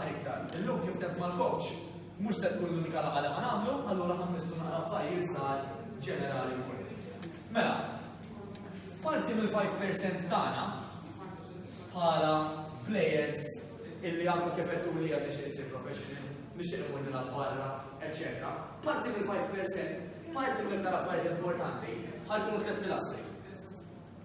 iktar. Illum kif temm mal-coach, mhux se tkun l-unika laqgħa li ħanamlu, allura ħammistu naqra affarijiet żgħar ġenerali wkoll. Mela, parti mill-5% tagħna bħala players illi għandu kif qed li għad nixtieq isir professional, nixtieq ikun nilgħab barra, eċċetera. Parti mill-5%, parti mill-iktar affarijiet importanti, ħajkunu tliet pilastri.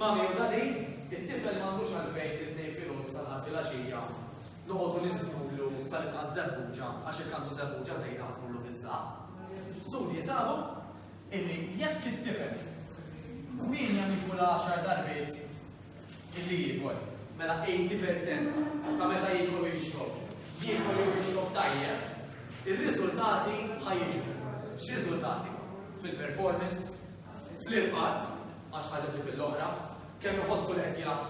Ma' miegħu ta' din, it-tifel m'għandux għalfejn mit-tnejn filgħodu sal-Ħadd filgħaxija noqogħdu niżmulu sal-inqas żebbuġa għax jekk għandu żebbuġa żejda ħa tmurlu fiż-żaqq. Studji sabu illi jekk it-tifel tmienja minn kull għaxar darbiet illi jiekol, mela 80% ta' meta jiekol u jixrob, jiekol u jixrob tajjeb, ir-riżultati ħajġu. X'riżultati? Fil-performance, fl-irqad, għax ħaġa ġib l-oħra, kemm iħossu li qed jaf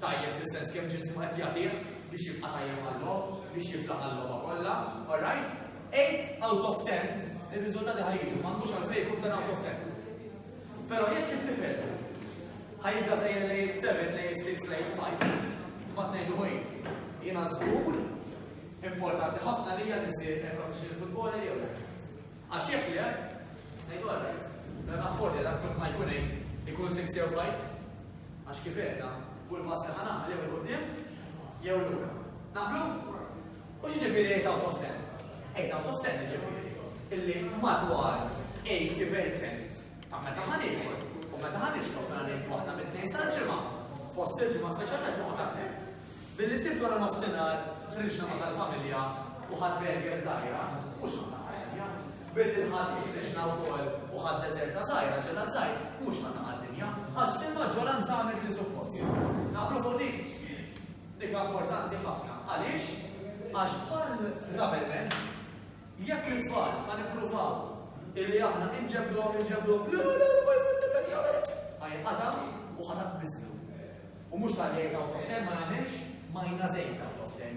tajjeb fis-sens kemm ġismu qed jagħtih biex jibqa' tajjeb għall-logħob, biex jibqa' għall-logħba kollha, all right? 8 out of 10 ir-riżultati ħajġu, m'għandux għalfejn jkun dan out of 10. Però jekk it-tifel ħajibda sejjer lej 7, lej 6, lej 5, ma tnejdu ħoj, jiena żgur importanti ħafna li hija nisir professional footballer jew Għax jekk le, ngħidu għalhekk, mela naħfodja dak kont ma jkun għid ikun sib sew bajt. Għax kif għedna, kull pass li ħanagħmel jew il-qudiem jew lura. Naqblu? U x'ġifieri għid out of ten? Għid out of ten ġifieri illi madwar 80% ta' meta ħan ikun u meta ħan ixrob mela ngħidu aħna mit-tnejn sal-ġimgħa fost il-ġimgħa speċjalment noqgħod attent. Billi sirt wara nofsinhar ħriġna ma' tal-familja u ħadt berger żgħira, mhux ma' ta' għaddinja. Billi l-Ħadd ħriġna wkoll u ħadd deżerta żgħira, ġelat żgħir, mhux ma' ta' għaddinja. Għax fil-maġġoranza għamilt li suppost. Naqblu fuq dik? Dik importanti ħafna. Għaliex? Għax bħal Ravelman, Jekk it-tfal ħa nippruvaw illi aħna inġebduhom inġebduhom le le le ma jfittilek le le. Ħajqata u ħa taqbiżlu. U mhux tal-jgħid hawn f'toften ma jagħmilx ma jna żejt hawn f'toften